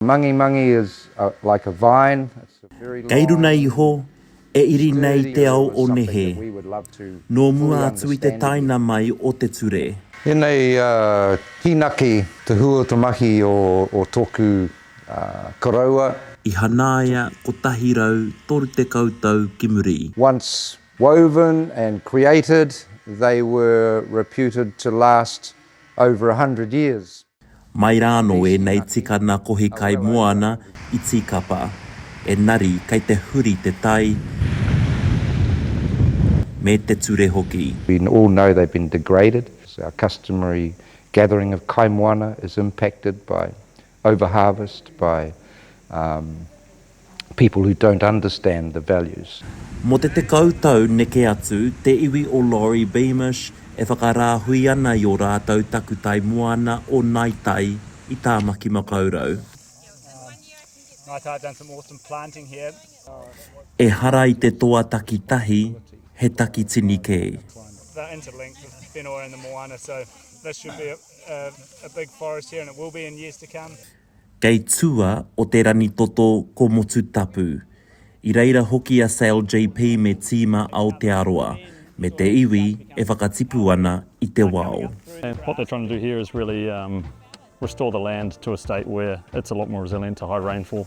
Mangi mangi is like a vine, it's a very long. Kei runa iho, e iri nei te ao o nehe, nō mua atu i te taina mai o te ture. Enei kinaki te hu o te mahi o toku koroua. I hanaia kotahi rau toru tekau tau ki muri. Once woven and created, they were reputed to last over a hundred years. Mai rā anō ēnei tikana kohi kai moana i tīkapa, enari kei te huri te tai me te ture hoki. We all know they've been degraded. Our customary gathering of kai moana is impacted by over-harvest, by. people who don't understand the values. Mō te tekau tau neke atu, te iwi o Laurie Beamish e whakarāhui ana i ō rātou takutai moana o Nai Tai i Tāmaki Makaurau. Ehara i te toa takitahi, he takitini kē. Kei tua o te rangi toto ko Motutapu. I reira hoki a Sale JP me tīma Aotearoa, me te iwi e whakatipu ana i te wao. And what they're trying to do here is really restore the land to a state where it's a lot more resilient to high rainfall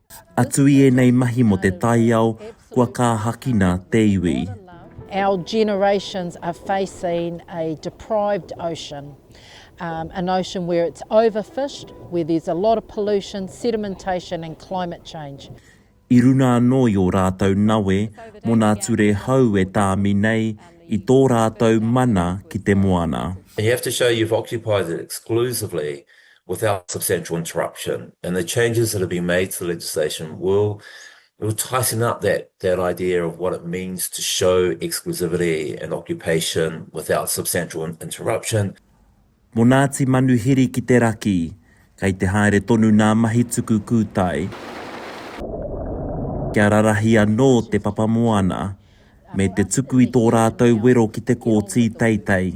Atu i ēnei mahi mō te taiao kua kāhakina te iwi. Our generations are facing a deprived ocean, an ocean where it's overfished, where there's a lot of pollution, sedimentation and climate change. I runa anō i ō rātou nawe mō nā ture hou e tāmi nei i tō rātou mana ki te moana. You have to show you've occupied it exclusively without substantial interruption. And the changes that have been made to the legislation will tighten up that idea of what it means to show exclusivity and occupation without substantial interruption. Mo Ngati Manuhiri ki te raki, kei te haere tonu nā mahi tuku kūtai. Kia rarahi anō te papamoana, me te tuku i tō rātou wero ki te kōti teitei.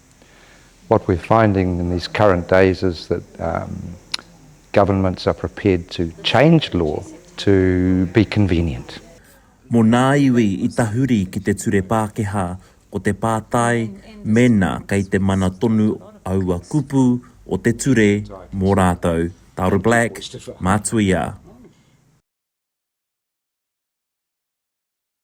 What we're finding in these current days is that governments are prepared to change law to be convenient. Mō ngā iwi i tahuri ki te ture Pākehā, ko te pātai mēnā kei te mana tonu aua kupu o te ture mō rātou, Taura Black, Mātuia.